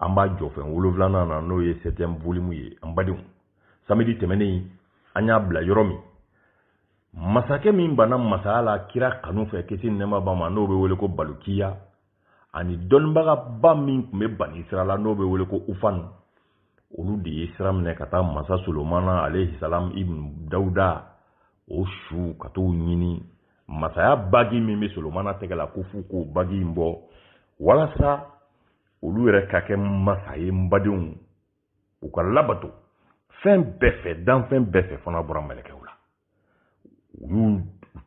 an b'a jɔ fɛn wolonwulanan na n'o ye septième volume ye an badenw samedi tɛmɛnen an y'a bila yɔrɔ min masakɛ min banna masaya la kira kanu fɛ kisi ni nɛɛma b'a ma n'o bɛ wele ko balukiya ani dɔnnibagaba min tun bɛ bani israyila n'o bɛ wele ko ufan olu de ye sira minɛ ka taa masa solomana alayhi salam ibn dawuda o su ka t'o ɲini masaya bagi min bɛ solomana tɛgɛ la ko f'u k'o bagi in bɔ walasa olu yɛrɛ ka kɛ masa ye n badenw u ka labato fɛn bɛɛ fɛ danfɛn bɛɛ fɛ fo n'a bɔra mɛlɛkɛw la u y'u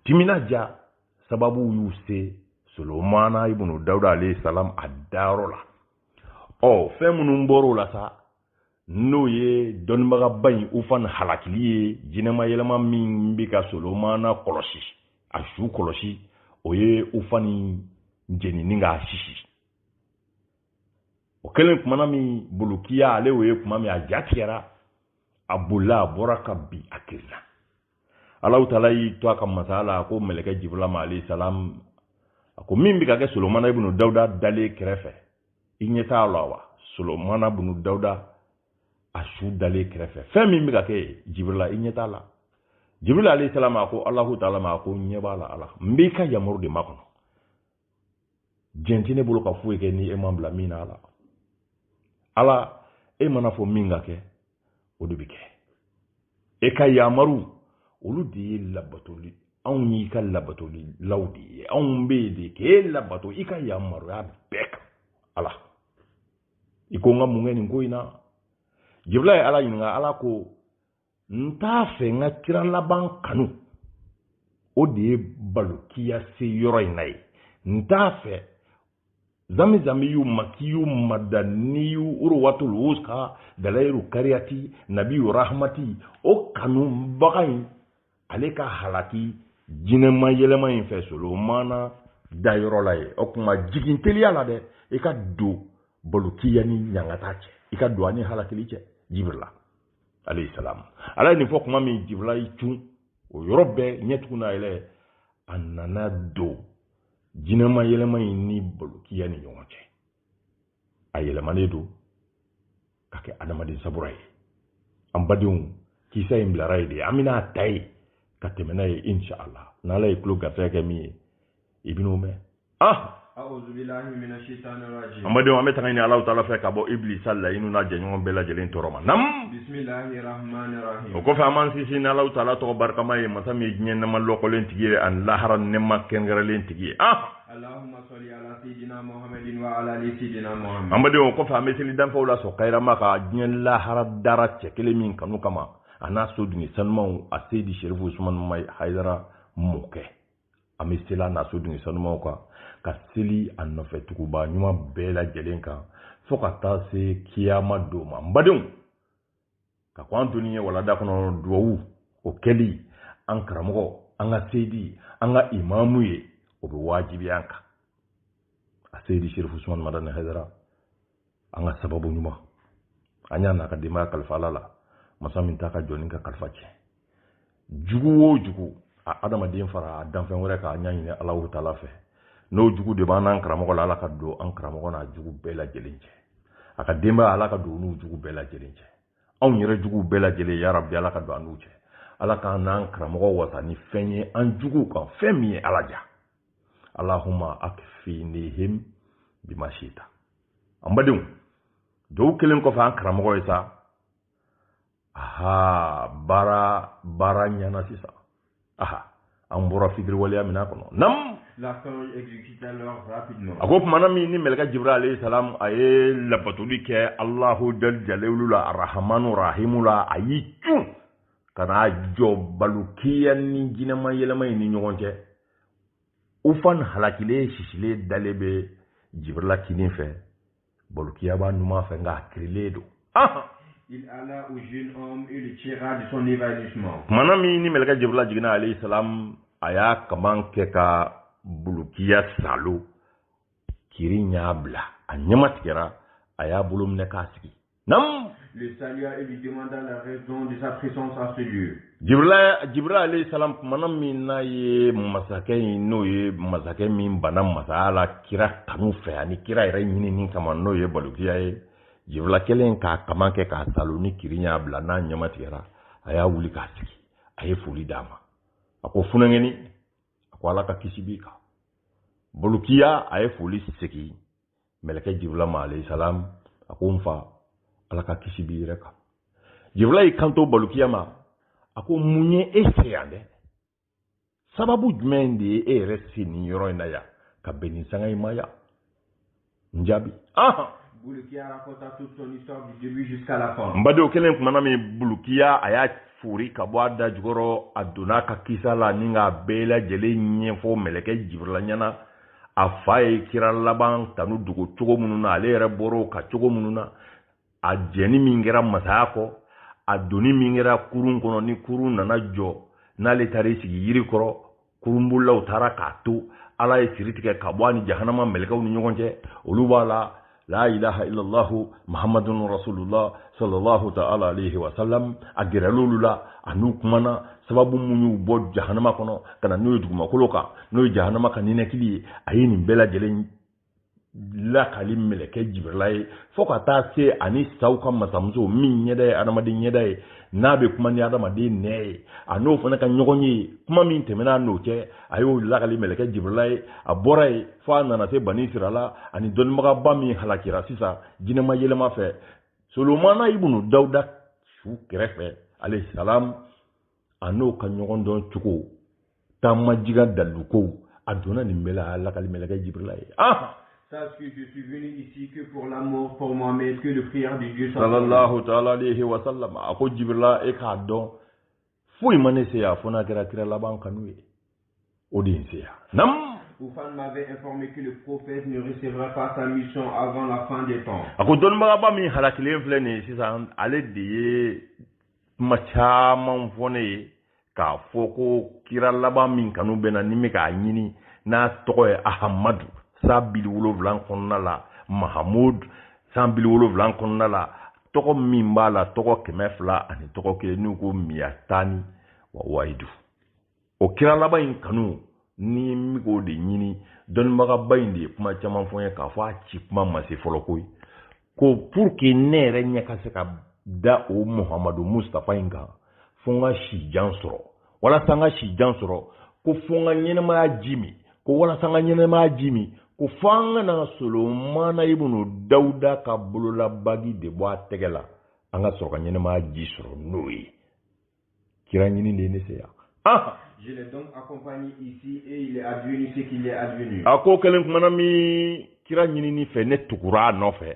timinandiya sababu y'u se solomana ibunu dawuda alayhi salam a dayɔrɔ la ɔ fɛn minnu bɔr'o la sa n'o ye dɔnnibagaba in ufan halakili ye jinɛma yɛlɛma min bɛ ka solomana kɔlɔsi a su kɔlɔsi o ye ufan jenini k'a sisi o kɛlen kuma na min balukiya ale y'o ye kuma min a ja tigɛra a bolila a bɔra ka bin a kirila alahu taala y'i to a ka masaya la a ko mɛlɛkɛ jibirila ma alayhi salam a ko min bɛ ka kɛ solomana ibunu dawuda dalen kɛrɛfɛ i ɲɛ t'a la wa solomana ibunu dawuda a su dalen kɛrɛfɛ fɛn min bɛ ka kɛ jibirila i ɲɛ t'a la jibirila alayhi salam a ko alahu taala ma a ko n ɲɛ b'a la ala n b'i ka yamaru de makɔnɔ jɛn tɛ ne bolo ka foyi kɛ ni e ma n bila min na ala ala e mana fɔ min ka kɛ o de bɛ kɛ e ka yamaru olu de ye labatoli anw y'i ka labatolilaw de ye anw bɛ yen de k'e labato i ka yamaruya bɛɛ kan ala i ko n ka mun kɛ nin ko in na jibirila ye ala ɲininka ala ko n t'a fɛ n ka kira laban kanu o de ye balukiya se yɔrɔ in na yen n t'a fɛ zamizamiyu makiyu madaniyu urwatul wuska dalayiru kariyati nabiyu rahamati o kanubaga in ale ka halaki jinɛma yɛlɛma in fɛ solomana dayɔrɔ la yen o kuma jigin teliya la dɛ i ka don balukiya ni ɲangata cɛ i ka don a ni halakili cɛ jibirila alayhi salam ala ye nin fɔ kuma min jibirila y'i cun o yɔrɔ bɛɛ ɲɛtugu n'a yɛlɛ a nana don jinɛma yɛlɛma in ni balukiya ni ɲɔgɔn cɛ a yɛlɛmalen don ka kɛ adamaden sabura ye an badenw kisa in bilara yen de an bɛna a ta ye ka tɛmɛ n'a ye inshallah n'ala ye tulo garisɛgɛ kɛ min ye i bɛn'o mɛn an badenw an bɛ tanga ɲini alahu taala fɛ ka bɔ iblisa layinu n'a jɛɲɔgɔn bɛɛ lajɛlen tɔɔrɔ ma nam o kɔfɛ an b'an sinsin n'alahu taala tɔgɔ barikama ye masa min ye diɲɛ nɛɛma lɔkɔlen tigi ye ani lahara nɛɛma kɛrɛnkɛrɛnlen tigi ye an badenw o kɔfɛ an bɛ seli danfɛnw la sɔn kayirama kan diɲɛ lahara dara cɛ kelen min kanu kama a n'a so dunge sanumanw a seyidi serifu usumani hayidara mɔkɛ an bɛ seli a n'a so dunge sanumanw kan ka seli a nɔfɛ tugubaa ɲuman bɛɛ lajɛlen kan fo ka taa se kiyama don ma n badenw ka kɔn an donni ɲɛ walanda kɔnɔ duwawu o kɛli an karamɔgɔ an ka seyidi an ka imamu ye o bɛ wajibiya an kan a seyidi sherifu sumani madani hayidara an ka sababu ɲuman an y'a n'a ka denbaya kalifa ala la masa min t'a ka jɔni ka kalifa tiɲɛ jugu o jugu a adamaden fara a danfɛn wɛrɛ kan an y'a ɲini alahu taala fɛ n'o jugu de b'an n'an karamɔgɔ la ala ka don an karamɔgɔ n'a jugu bɛɛ lajɛlen cɛ a ka denbaya ala ka don n'u jugu bɛɛ lajɛlen cɛ anw yɛrɛ juguw bɛɛ lajɛlen ya rabi ala ka don an n'u cɛ ala k'an n'an karamɔgɔ wasa ni fɛn ye an juguw kan fɛn min ye ala ja allahuma akfinihim bima shita an badenw duwawu kɛlen kɔfɛ an karamɔgɔ ye sa aha baara baara ɲana sisan aha an bɔra fitiriwaleya min kɔnɔ nam a ko tumana min ni mɛlɛkɛ jibirila alayhi salam a ye labatoli kɛ allahu jalla jalaluhu la arahamanu rahimu la a y'i cun ka n'a jɔ balukiya ni jinɛma yɛlɛma in ni ɲɔgɔn cɛ ufan halakilen sisilen dalen bɛ jibirila kinin fɛ balokiya b'a numan fɛ nka a kirilen don Il alla au jeune homme et le tira de son évanouissement. tumana min ni mɛlɛkɛ jibirila jiginna alayhi salam a y'a kaman kɛ ka bulukiya saalo kirin y'a bila a ɲɛma tigɛra a y'a bolo minɛ k'a sigi Nam. Le salua et lui demanda la raison de sa présence à ce lieu. Jibril alayhi salam kumana min n'a ye masakɛ in n'o ye masakɛ min bana masaya la kira kanu fɛ ani kira yɛrɛ ɲinini kama n'o ye balokiya ye jibirila kɛlen k'a kaman kɛ k'a saalo ni kirin y'a bila n'a ɲɛma tigɛra a y'a wuli k'a sigi a ye foli d'a ma a ko funankɛni a ko ala ka kisi b'i kan bolokiya a ye foli segin mɛlɛkɛ jibirila ma alayhi salam a ko n fa ala ka kisi b'i yɛrɛ kan jibirila y'i kanto balukiya ma a ko mun ye e se yan dɛ sababu jumɛn de ye e yɛrɛ se nin yɔrɔ in na yan ka bɛn nin sanga in ma yan n jaabi ahan Bulukiya raconta toute son histoire du début jusqu'à la fin. n badenw kɛlen kumana min bulukiya a y'a fori ka bɔ a da jukɔrɔ a donn'a ka kisa la ni k'a bɛɛ lajɛlen ɲɛfɔ mɛlɛkɛ jibirila ɲɛna a fa ye kira laban tanu dogo cogo minnu na ale yɛrɛ bɔr'o kan cogo minnu na a jɛnni min kɛra masaya kɔ a donni min kɛra kurun kɔnɔ ni kurun nana jɔ n'ale taara i sigi yiri kɔrɔ kurunbolilaw taara k'a to ala ye siri tigɛ ka bɔ a ni jahanama mɛlɛkɛw ni ɲɔgɔn cɛ olu b'a la la ilaha illallah muhammadun rasulullah sallallahu ta'ala alayhi wa sallam a gɛrɛl'olu la a n'u kumana sababu mun y'u bɔ jahanama kɔnɔ ka na n'o ye dugumakolo kan n'o ye jahanama ka ninakili ye a ye nin bɛɛ lajɛlen lakali mɛlɛkɛ jibirila ye fo ka taa se ani saw ka masamuso min ɲɛda ye adamaden ɲɛda ye n'a bɛ kuma ni adamaden nɛn ye a n'o fana ka ɲɔgɔn ye kuma min tɛmɛna n'o cɛ a y'o lakali mɛlɛkɛ jibrila ye a bɔra yen fo a nana se bani sirala ani dɔnnibagaba min halakira sisan jinɛma yɛlɛma fɛ solomana ibunu dawuda su kɛrɛfɛ alayhi salam a n'o ka ɲɔgɔn dɔn cogo taama jiga dalilukow a donna nin bɛɛ la a y'a lakali mɛlɛkɛ jibrila ye ah Sache que je suis venu ici que pour l'amour pour Mohamed, que le prière de Dieu soit. Sallallahu alayhi wa sallam. A ko Jibrila, e k'a dɔn foyi ma ne se yan fo n'a kɛra kira laban kanu ye o de ye n se yan nam Oufan m'avait informé que le prophète ne recevra pas sa mission avant la fin des temps. A ko dɔnnibagaba min halakilen filɛ nin ye sisan ale de ye kuma caman fɔ ne ye k'a fɔ ko kira laban min kanu bɛ n na ni n bɛ k'a ɲini n'a tɔgɔ ye ahamadu sanbili wolonwula kɔnɔna la mahamud sanbili wolonwula kɔnɔna la tɔgɔ min b'a la tɔgɔ kɛmɛ fila ani tɔgɔ kelen n'u ko miyatani wa wahidu o kira laban in kanu ni n bɛ k'o de ɲini dɔnnibagaba in de ye kuma caman fɔ n ye k'a fɔ a ci kuma ma se fɔlɔ koyi ko pour que ne yɛrɛ ɲɛ ka se ka da o muhamadu mustapha in kan fo n ka si jan sɔrɔ walasa n ka si jan sɔrɔ ko fo n ka ɲɛnamaya ji min ko walasa n ka ɲɛnamaya ji min ko fo an ka na solomana ibunu dawuda ka bololabagi de bɔ a tɛgɛ la an ka sɔrɔ ka ɲɛnamaya ji sɔrɔ n'o ye kira ɲini de ye ne se yan ah! Je l'ai donc accompagné ici et il est advenu ce qu'il est advenu. A ko kɛlen kumana min kira ɲinini fɛ ne tugura a nɔfɛ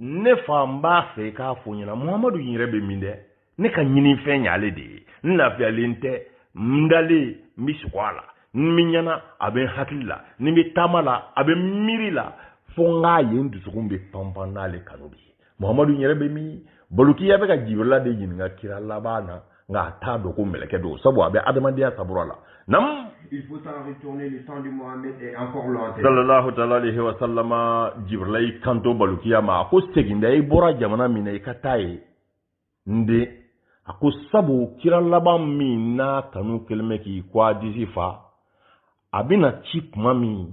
ne fa n b'a fɛ i k'a fɔ n ɲɛna muhamadu in yɛrɛ bɛ min dɛ ne ka ɲinifɛn y'ale de ye n lafiyalen tɛ n dalen n bɛ sugo a la ni n bɛ ɲɛna a bɛ n hakili la ni n bɛ taama la a bɛ n miiri la fo n k'a ye n dusukun bɛ panpan n'ale kanu de ye muhamadu in yɛrɛ bɛ min bulukiya bɛ ka jibirila de ɲininka kira laban na nka a t'a dɔn ko mɛlɛkɛ don sabu a bɛ adamadenya sawura la nam Il faut t'en retourner, le temps de Mohamed est encore lointain. sallallahu taala alayhi wa sallama jibrila y'i kanto balukiya ma a ko segin dɛ i bɔra jamana min na i ka taa ye n den a ko sabu kira laban min n'a kanu kɛlen bɛ k'i ko a disi fa a bɛna ci kuma min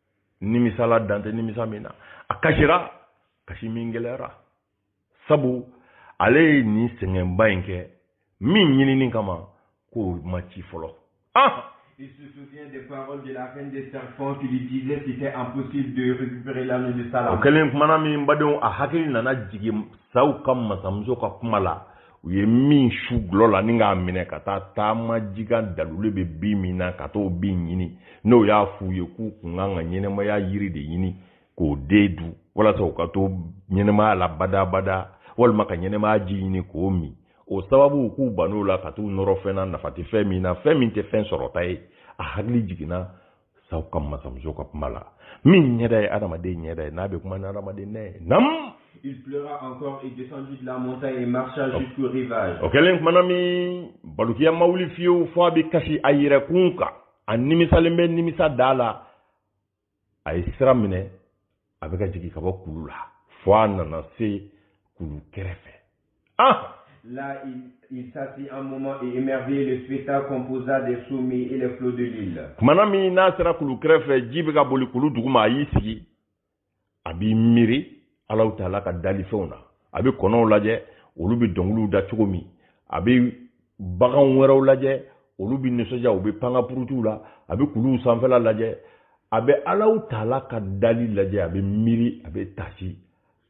nimisala dan tɛ nimisa min na a kasira kasi min gɛlɛyara sabu ale ye nin sɛgɛnba in kɛ min ɲinini kama k'o ma ci fɔlɔ ah Il se souvient des paroles de la reine des serpents qui lui disait que c'était impossible de récupérer l'anneau de Salomon. O kɛlen kumana min badenw a hakili nana jigin saw ka masamuso ka kuma la u ye min su gulɔ la ni k'a minɛ ka taa taama ji kan dalilu bɛ bin min na ka t'o bin ɲini n'o y'a f'u ye k'u kun kan ka ɲɛnamaya yiri de ɲini k'o den dun walasa u ka to ɲɛnamaya la badabada walima ka ɲɛnamaya ji ɲini k'o min o sababu k'u ban'o la ka t'u nɔrɔ fɛn na nafa tɛ fɛn min na fɛn min tɛ fɛn sɔrɔta ye a hakili jiginna saw ka masamuso ka kuma la min ɲɛda ye adamaden ɲɛda ye n'a bɛ kuma ni adamaden nɛn ye nam Il pleura encore et descendit de la montagne et marcha jusqu'au rivage. O kɛlen kumana min balukiya ma wuli fiyewu fo a bɛ kasi a yɛrɛkun kan a nimisalen bɛ nimisa da la a ye sira minɛ a bɛ ka jigin ka bɔ kulu la fo a nana se kulu kɛrɛfɛ ah Là, il, il s'assit un moment et émerveillé le spectacle composa des sommets et les flots de l'île. Kumana min n'a sera kulu kɛrɛfɛ ji bɛ ka boli kulu duguma a y'i sigi a b'i miiri Alahu Taala ka dalifɛnw na a bɛ kɔnɔw lajɛ olu bɛ dɔnkiliw da cogo min a bɛ bagan wɛrɛw lajɛ olu bɛ nisɔndiya u bɛ pan ka purutiw la a bɛ kuluw sanfɛla lajɛ a bɛ Alahu Taala ka dali lajɛ a bɛ miiri a bɛ tasi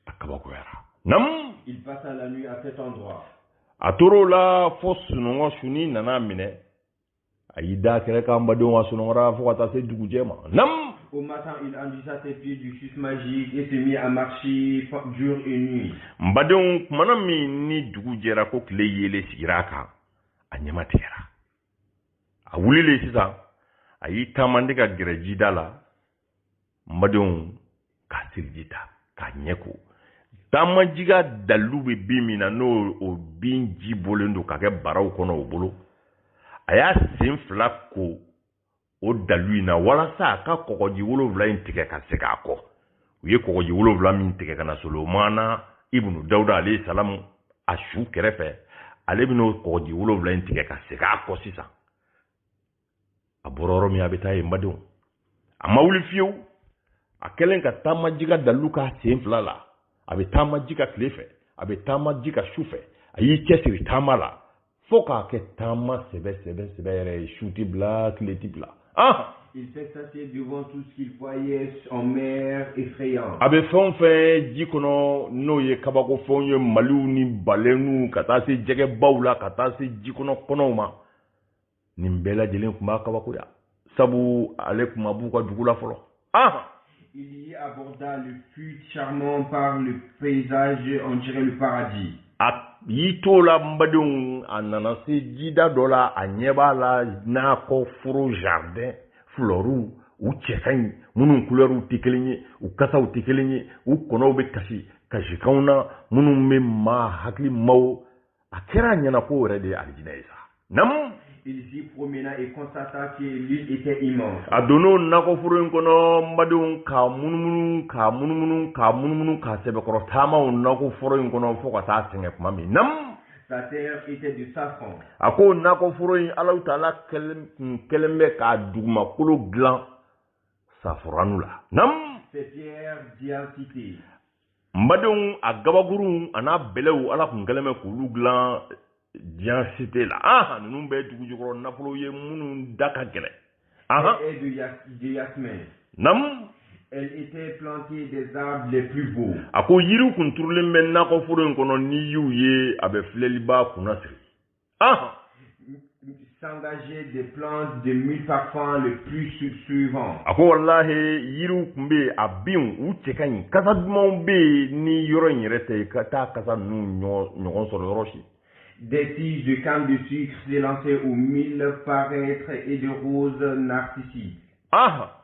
a kabakoyara namu Il passa la nuit à cet endroit. a tor'o la fo sunɔgɔ sunni nan'a minɛ a y'i d'a kɛrɛ kan badenw a sunɔgɔra fo ka taa se dugujɛ ma nam Au matin, il enduisit ses pieds du suc magique et se mit à marcher jour et nuit. N badenw, kumana min ni dugu jɛra ko tile yeelen sigira a kan, a ɲɛma tigɛra. A wulilen sisan, a y'i taamande ka gɛrɛ jida la, n badenw ka seliji ta k'a ɲɛ ko taama ji kan dalilu bɛ bin min na n'o o bin ji bɔlen don ka kɛ baraw kɔnɔ o bolo a y'a sen fila ko o dalilu in na walasa a ka kɔgɔji wolonwula in tigɛ ka segin a kɔ u ye kɔgɔji wolonwula min tigɛ ka na solomana ibunu dawuda alayhi salamu a su kɛrɛfɛ ale bɛn'o kɔgɔji wolonwula in tigɛ ka segin a kɔ sisan a bɔra yɔrɔ min a bɛ taa yen badenw a ma wuli fiyewu a kɛlen ka taama ji ka dalilu k'a sen fila la a bɛ taama ji ka tile fɛ a bɛ taama ji ka su fɛ a y'i cɛsiri taama la fo k'a kɛ taama sɛbɛ sɛbɛ sɛbɛ yɛrɛ ye su ti bila tile ti bila ah! Il s'extasiait devant tout ce qu'il voyait en mer effrayante. a bɛ fɛn o fɛn ji kɔnɔ n'o ye kabako fɛnw ye maliw ni balɛniw ka taa se jɛgɛbaw la ka taa se ji kɔnɔ kɔnɔw ma nin bɛɛ lajɛlen tun b'a kabakoya sabu ale tun ma b'u ka dugu la fɔlɔ ah Il y aborda et fut charmé par le paysage on dirait le paradis. A y'i t'o la n badenw a nana se jida dɔ la a ɲɛ b'a la nakɔ foro jardin fleurs u cɛ ka ɲi minnu kulɛriw tɛ kelen ye u kasaw tɛ kelen ye u kɔnɔw bɛ kasi kasikanw na minnu bɛ maa hakili maaw a kɛra a ɲɛna k'o yɛrɛ de ye alijinɛ ye sa namu Il s'y promena et constata que l'île était immense. a donn'o nakɔforo in kɔnɔ n badenw k'a munumunu k'a munumunu k'a munumunu k'a sɛbɛkɔrɔ taama o nakɔforo in kɔnɔ fo ka taa sɛgɛn tuma min namu Sa terre était de safran. a ko nakɔforo in ala taala tun kɛlen bɛ k'a dugumakolo dilan saforanu la namu n badenw a gabakurunw a n'a bɛlɛw ala tun kɛlen bɛ k'olu dilan d'hyacinthe la aha ninnu bɛɛ dugujukɔrɔ nafolo ye minnu da ka gɛlɛn aha et de yas de yasmin nam elle était plantée des arbres les plus beaux a ko yiriw kun turulen bɛ nakɔforo in kɔnɔ n'i y'u ye a bɛ filɛlibaa kunnasiri Ah. S'engager des plantes de mille parfums les plus suaves. A ko walahi yiriw tun bɛ yen a binw u cɛ ka ɲi kasa dumanw bɛ yen ni yɔrɔ in yɛrɛ tɛ ka taa kasa ninnu ɲɔgɔn sɔrɔ yɔrɔ si. Des tiges de canne de sucre s'élançaient aux mille paraître et de roses narcissiques. Ah.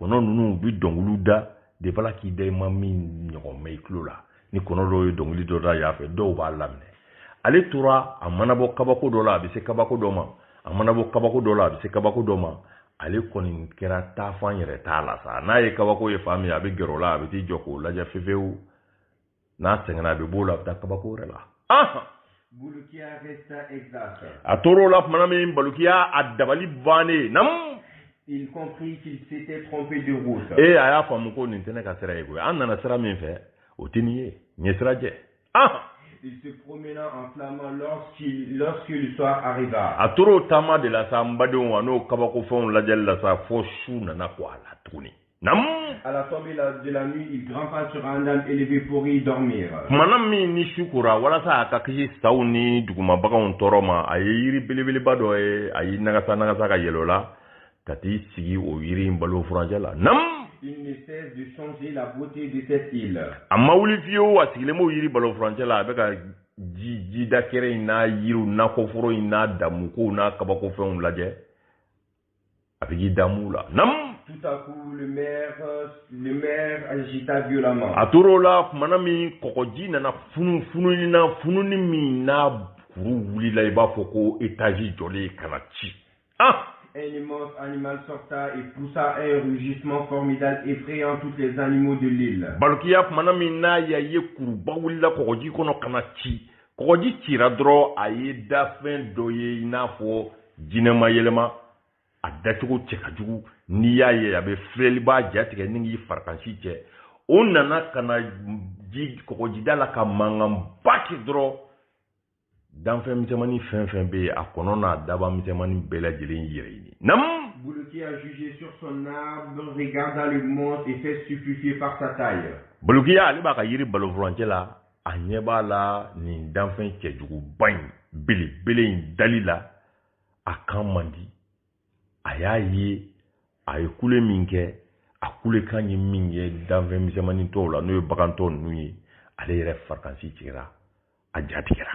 kɔnɔ ninnu u bɛ dɔnkiliw da de b'ala k'i da i ma min ɲɔgɔn mɛ i tulo la ni kɔnɔ dɔw ye dɔnkili dɔ da yan fɛ dɔw b'a laminɛ ale tora a mana bɔ kabako dɔ la a bɛ se kabako dɔ ma a mana bɔ kabako dɔ la a bɛ se kabako dɔ ma ale kɔni kɛra taafan yɛrɛ t'a la sa n'a ye kabako ye fan min a bɛ gɛrɛ o la a bɛ t'i jɔ k'o lajɛ fefewu n'a sɛgɛnna a bɛ b'o la a bɛ taa kabako wɛrɛ la a tor'o la tuma min balukiya a dabali bannen namu il comprit qu'il s'était trompé de route. Et eh, a y'a faamu ko nin tɛ ne ka sira ye koyi an nana sira min fɛ o tɛ nin ye n ye sira jɛ ah il se promena en flânant lorsqu'il lorsque le soir arriva a tor'o taama de la sa n badenw a n'o kabakofɛnw lajɛli la sa fo su nana ko a la tuguni Nam. À la tombée de la nuit, il grimpa sur un arbre élevé pour y dormir. Kumana min ni su kora walasa a ka kisi saw ni duguma baganw tɔɔrɔ ma a ye yiri belebeleba dɔ ye a y'i nagasa nagasa ka yɛlɛ o la ka t'i sigi o yiri in balo furancɛ la nam Il ne cesse de chanter la beauté de cette île. a ma wuli fiyewu a sigilen b'o yiri balo furancɛ la a bɛ ka ji jidakɛrɛ in n'a yiriw nakɔforo in n'a damukow n'a kabakofɛnw lajɛ A bɛ k'i damu la namu tout à coup la mer la mer agita violemment a tor'o la tumana min kɔgɔji nana funu fununi na fununi min na kuru wulila i b'a fɔ ko étage jɔlen ka na ci ah un immense animal sorta et poussa un rugissement formidable effrayant tous les animaux de l'île Balukiya tumana min n'a y'a ye kuruba wulila kɔgɔji kɔnɔ ka na ci kɔgɔji cira dɔrɔn a ye danfɛn dɔ ye i n'a fɔ jinɛma yɛlɛma a dacogo cɛ ka jugu n'i y'a ye a bɛ filɛli b'a jatigɛ ni k'i farikansi cɛ o nana ka na ji kɔgɔjida la ka mankanba kɛ dɔrɔn danfɛn misɛnmani fɛn fɛn bɛ yen a kɔnɔ n'a daba misɛnmani bɛɛ lajɛlen yɛrɛ ɲini nam Bolokiya juché sur son arbre, regarda le monstre et fut stupéfié par sa taille. Bolokiya ale b'a ka yiri balofurancɛ la a ɲɛ b'a la nin danfɛn cɛjuguba in belebele in dali la a kan man di a y'a ye a ye kule min kɛ a kulekan ye min kɛ danfɛn misɛnmanin tɔw la n'o ye bagan tɔ ninnu ye ale yɛrɛ farikansi tigɛra a ja tigɛra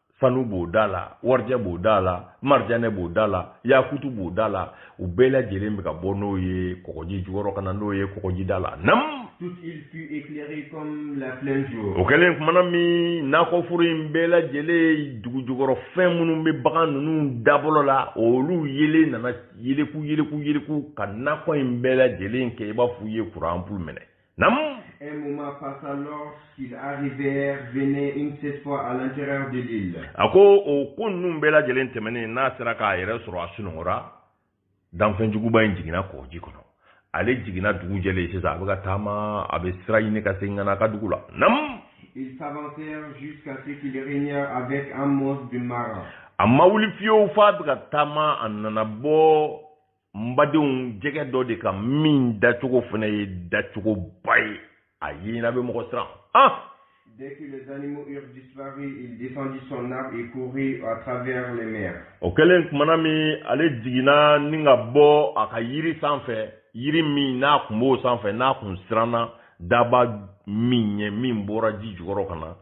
sanu b'o da la warijɛ b'o da la marijanɛ b'o da la yakutu b'o da la o bɛɛ lajɛlen bɛ ka bɔ n'o ye kɔgɔji jukɔrɔ ka na n'o ye kɔgɔji da la nam Toute l'île fut éclairée comme en plein jour. o kɛlen kumana min nakɔforo in bɛɛ lajɛlen dugu jukɔrɔ fɛn minnu bɛ bagan ninnu dabɔlɔ la olu yeelen nana yeleku yeleku yeleku ka nakɔ in bɛɛ lajɛlen kɛ i b'a fɔ u ye kuran anpulu mɛnɛ Nam. Un moment passa lorsqu'ils arrivèrent, venaient une cette fois à l'intérieur de l'île. A ko o ko ninnu bɛɛ lajɛlen tɛmɛnen n'a sera k'a yɛrɛ sɔrɔ a sunɔgɔra danfɛn juguba in jiginna kɔji kɔnɔ ale jiginna dugu jɛlen sisan a bɛ ka taama a bɛ sira ɲini ka segin ka na a ka dugu la nam Ils s'avancèrent jusqu'à ce qu'ils régnèrent avec un monstre de marin. a ma wuli fiyewu f'a bɛ ka taama a nana bɔ n badenw jɛgɛ dɔ de kan min dacogo fana ye dacogoba ye a yeɲina bɛ mɔgɔ siran ah Dès que les animaux eurent disparu, il descendit son arbre et courut à travers les mers. O kɛlen kumana min ale jiginna ni ka bɔ a ka yiri sanfɛ, yiri min n'a kun b'o sanfɛ, n'a kun siranna daba min ɲɛ min bɔra ji jukɔrɔ ka na,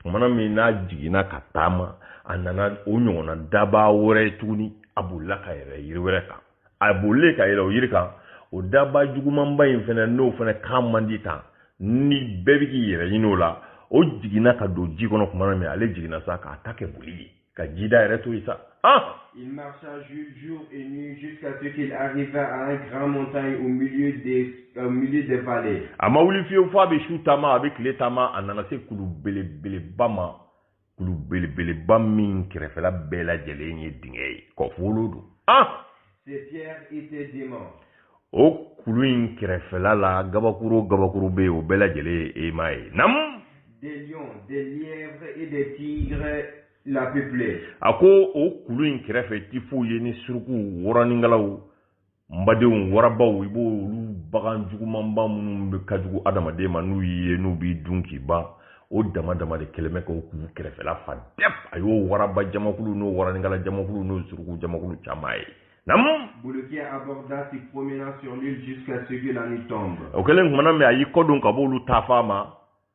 kumana min n'a jiginna ka taama, a nana o ɲɔgɔnna daba wɛrɛ tuguni a bolila ka yɛlɛ yiri wɛrɛ kan a bolilen ka yɛlɛ o yiri kan o daba jugumanba in fɛnɛ n'o fɛnɛ kan man di tan ni bɛɛ bɛ k'i yɛrɛ ɲini o la o jiginna ka don ji kɔnɔ tuma min ale jiginna sa k'a ta kɛ boli ye ka jida yɛrɛ to yen sa ah Il marcha jour et nuit jusqu'à ce qu'il arriva à une grande montagne au milieu des, au milieu des vallées. A ma wuli fiyewu f'a bɛ su taama a bɛ tile taama a nana se kulu belebeleba ma kulu belebeleba min kɛrɛfɛla bɛɛ lajɛlen ye dingɛ ye kɔfolo don an o kulu in kɛrɛfɛla la gabakuru gabakuru bɛ yen o bɛɛ lajɛlen ye aimant ye nam a ko o kulu in kɛrɛfɛ i ti foyi ye ni surukuw waraninkalaw n badenw warabaw i b'o olu bagan jugumanba minnu bɛɛ ka jugu adamaden ma n'u y'i ye n'u b'i dun k'i ban o dama dama de kɛlen bɛ k'o kulu kɛrɛfɛla fa dɛp a y'o waraba jamakulu n'o waraninkala jamakulu n'o suruku jamakulu caman ye nam o kɛlen tumana min a y'i kɔdon ka b'olu taafan ma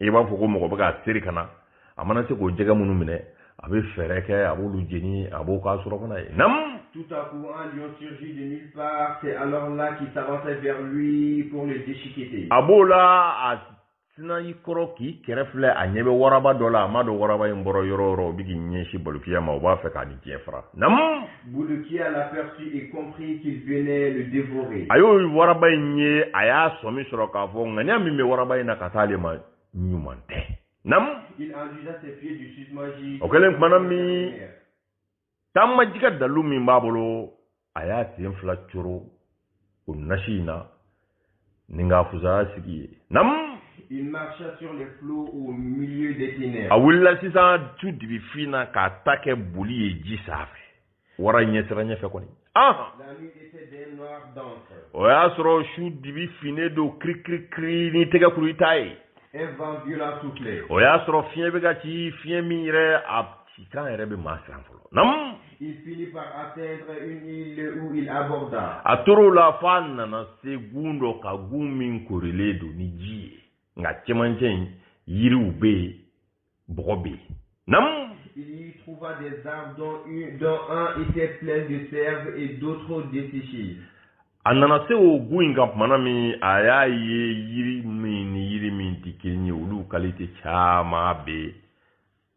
i b'a fɔ ko mɔgɔ bɛ k'a seri ka na a mana se k'o jɛgɛ minnu minɛ a bɛ fɛɛrɛ kɛ a b'olu jeni a b'o k'a surɔfana ye nam Tout à coup, un lion surgit de nulle part. C'est alors là qu'il s'avançait vers lui pour le déchiqueter. A b'o la a sinna i kɔrɔ k'i kɛrɛ filɛ a ɲɛ bɛ waraba dɔ la a m'a dɔn waraba in bɔra yɔrɔ yɔrɔ o bɛ k'i ɲɛsin Balokiya ma o b'a fɛ k'a ni diɲɛ fara nam a y'o waraba in ye a y'a sɔmi sɔrɔ k'a fɔ ŋaniya min bɛ waraba in na ka taa ale ma ɲuman tɛ nam o kɛlen tumana min taama jikan dalu min b'a bolo a y'a sen fila coro o nasi in na ni k'a fusaya sigi ye nam Il marcha sur les flots au milieu des ténèbres. a wulila sisan su dibi fin na k'a ta kɛ boli ye ji sanfɛ wara ɲɛsiranɲɛ fɛ kɔni ah La nuit était d'un noir dense. o y'a sɔrɔ su dibi finnen don kirikirikiri n'i tɛgɛ kuru i t'a ye Un vent violent soufflait. o y'a sɔrɔ fiɲɛ bɛ ka ci fiɲɛ min yɛrɛ a cikan yɛrɛ bɛ maa siran fɔlɔ. Nam. Il finit par atteindre une île où il aborda. A tor'o la f'a nana se gun dɔ kan gun min korilen don ni ji ye nka cɛmancɛ in yiriw bɛ yen bɔgɔ bɛ yen. Nam. Il y trouva des arbres dont, une, dont un était plein de sève et d'autres desséchés. A nana se o gun in kan tumana min a y'a ye yiri min ni yiri min tɛ kelen ye olu kalite caman bɛ yen.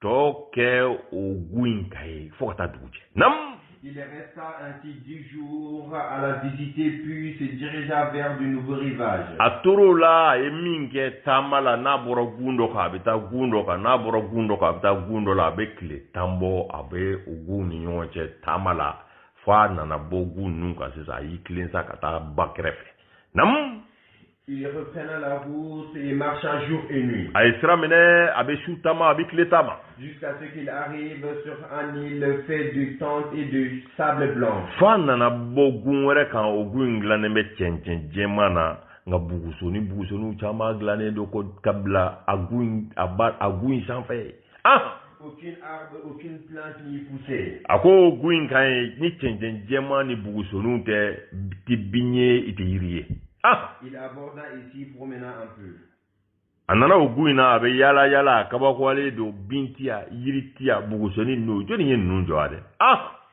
tɔ kɛ o gun in kan ye fo ka taa dugu jɛ nam Il resta ainsi dix jours à la visiter puis se dirigea vers de nouveaux rivages. A tor'o la a ye min kɛ taama la n'a bɔra gun dɔ kan a bɛ taa gun dɔ kan n'a bɔra gun dɔ kan a bɛ taa gun dɔ la a bɛ tile tan bɔ a bɛ o gunw ni ɲɔgɔn cɛ taama la fo a nana bɔ gun ninnu kan sisan a y'i tilen sa ka taa ba kɛrɛfɛ. Nam Il reprend la route et marcha jour et nuit. A ye sira minɛ a bɛ su taama a bɛ tile taama. Jusqu'à ce qu'il arrive sur un île fait de tentes et de sable blanc. F'a nana bɔ gun wɛrɛ kan o gun in dilannen bɛ cɛncɛn jɛman na nka bugusoni bugusoniw caman dilannen don ko ka bila a gun in a ba a gun in sanfɛ. ah a ko gu in kan ye ni cɛncɛn jɛman ni bugusoninw tɛ tɛ bin ye i tɛ yiri ye ah a nana o gu in na a bɛ yaala yaala a kabakoyalen don bin tiya yiri tiya bugusonin ninnu jɔni ye ninnu jɔ a dɛ ah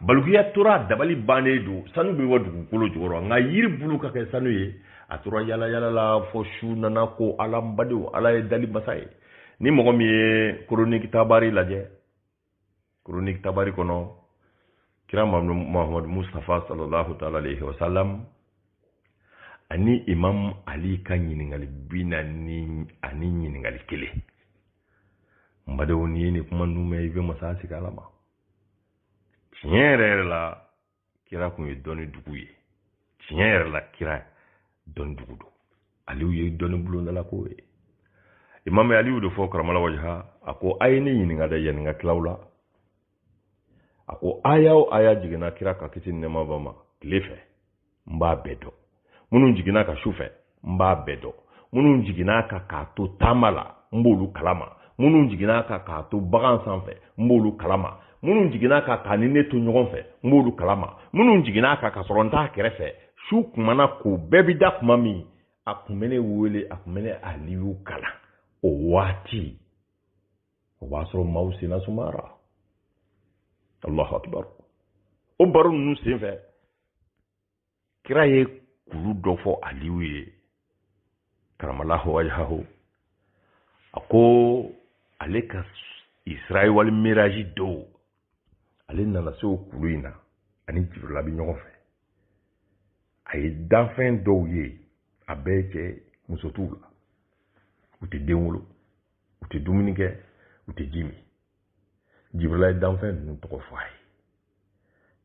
balukiya tora a dabali bannen don sanu bɛ wa dugukolo jukɔrɔ nka yiri bulu ka kɛ sanu ye a tora yala yala la fo su nana ko ala n badenw ala ye dali masa ye ni mɔgɔ min ye chronique tabari lajɛ chronique tabari kɔnɔ kira mahamadu mustafa sallallahu taala alayhi wa sallam ani imam ali ka ɲininkali bi naani ani ɲininkali kelen n badenw n'i ye nin kuma ninnu mɛn i bɛ masa sigi ala ma tiɲɛ yɛrɛ yɛrɛ la kira kun ye dɔnni dugu ye tiɲɛ yɛrɛ la kira dɔnni dugu don aliyu ye dɔnni bulondala ko ye imam aliyu de fɔ karamala wajaha a ko a ye ne ɲininka dɛ yanni n ka tila aw la a ko aya o aya jiginna kira kan kisi nɛma b'a ma tile fɛ n b'a bɛɛ dɔn minnu jiginna a kan su fɛ n b'a bɛɛ dɔn minnu jiginna a kan k'a to taama la n b'olu kalama minnu jiginna a kan k'a to bagan sanfɛ n b'olu kalama minnu jiginna a kan k'a ni ne to ɲɔgɔn fɛ n b'olu kalama minnu jiginna a kan k'a sɔrɔ n t'a kɛrɛfɛ su kun mana ko bɛɛ bi da kuma min a kun bɛ ne wele a kun bɛ ne aliyu kalan o waati o b'a sɔrɔ maaw senna sumara allahu akibaru o baro ninnu senfɛ kira ye kulu dɔ fɔ aliyu ye karamalaho wajahaho a ko ale ka israa wali miraji don ale nana se o kulu in na a ni jibirila bɛ ɲɔgɔn fɛ a ye danfɛn dɔw ye a bɛɛ cɛ muso t'u la u tɛ den wolo u tɛ dumuni kɛ u tɛ ji min jibirila ye danfɛn ninnu tɔgɔ fɔ a ye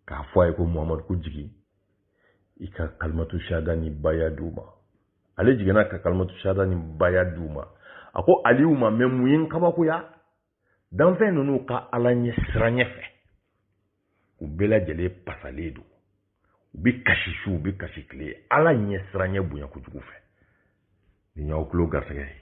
k'a fɔ a ye ko muhamadu ko jigin i ka kalimatu shahada ni baya di u ma ale jiginna ka kalimatu shahada ni baya di u ma a ko aliyu ma mɛ mun ye n kabakoya danfɛn ninnu ka ala ɲɛ siranyɛ fɛ u bɛɛ lajɛlen pasalen don u bɛ kasi su u bɛ kasi tile ala ɲɛ siranyɛ bonya kojugu fɛ nin y'aw tulo garisɛgɛ ye